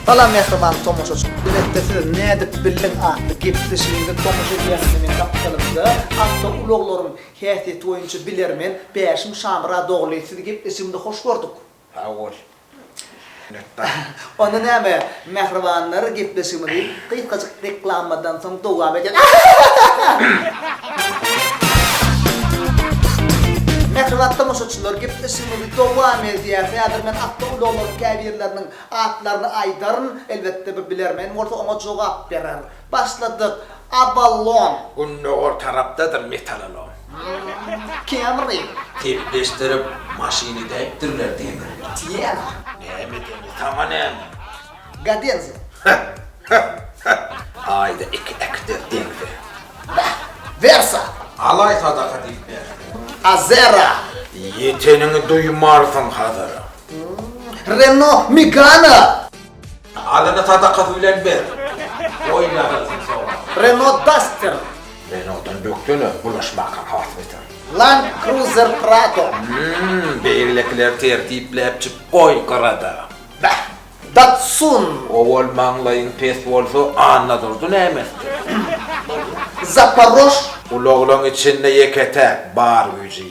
Salam mähriban tomaşaçy. Biletde siz nädip bildiň atly gepleşigiňizi tomaşa edýän meniň gapdalymda awtoulaglaryň häsiýeti boýunça bilermen Bäşim Şamyradogly sizi gepleşigimizde hoş gördük. Sag bol. Minnetdar. Onda näme, mähribanlar, gepleşigimizi gysgajyk reklamadan soň dowam edýäs. Mähriban tomaşaçylar, gepleşigimizi dowam edýäs. Häzir men awtoulaglaryň käbirleriniň atlaryny aýdaryn. Elbetde, bir bilermen bolsa, oňa jogap berer. Başladyk. Aballon. Gündogar tarapdadyr metalalom. Kemri. Sepleşdirip maşyny däýipdirler demir. Tiena. Näme demir tama näme. Gadenzo. Heh heh heh aýda iki ekter demri. Beh. Versa. Alaý sadaka diýip berdi. Azera. Ýeteniňi duýmarsyň Hazara. Reno Migana. Alyny sadakasy bilen ber. Goý ýazylsyn sowgat. Renault Duster. Renault-dan bökdene, bulaşmakaň has beter. Land Cruiser Prado. Hümm, beýlekileri tertipläpjik goý gyrada. Bäh! Datsun. Owal maňlaýyň pes bolsa, Annadurdy näme etsin? Zaparož. Ulaglaň içinde ýeke-täk, bar güýji.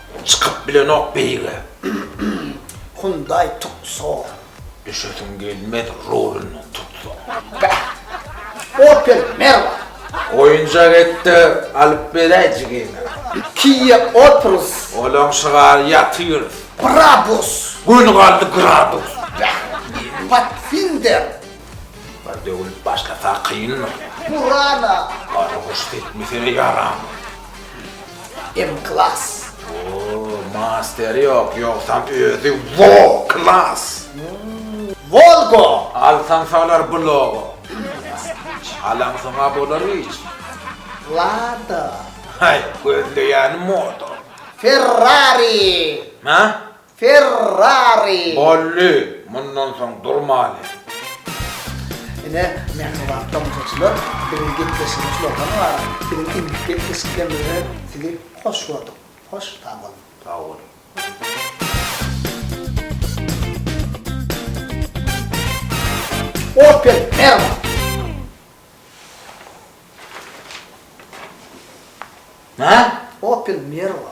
Çykyp bilenok beýige. Hyundaý Tucson. Düşesiň gelmez rulundan tutsaň. Bäh. Opel Merva. Oýunjak et-de alyp beräý jigiňe. Kia Opels. Olaň şygary ýaty ýörüs. Brabus. Göni galdy gradus. Bäh. Pathfinder. Bir döwlüp başlasa kyndyr. Burana. Gara guş sepmesene ýaramyz. Em klass. Ooo masteri yok yoksam özi wo klass. Volgo. Alsan salar bu logo. Alansona bolar hiç. Lada. Hay gözleýäni moto. Ferrari. Hä? Ferrari. Bolly, mundan soň durmaly. Ine, mähriban tomaşaçylar, biziň gepleşigimiz şulardan ybarat. Biziň indiki gepleşiklerimize sizi hoş gördük. Hoş, sag boluň. Sag boluň. Opel, merhaba. Nä? Opel, merhaba.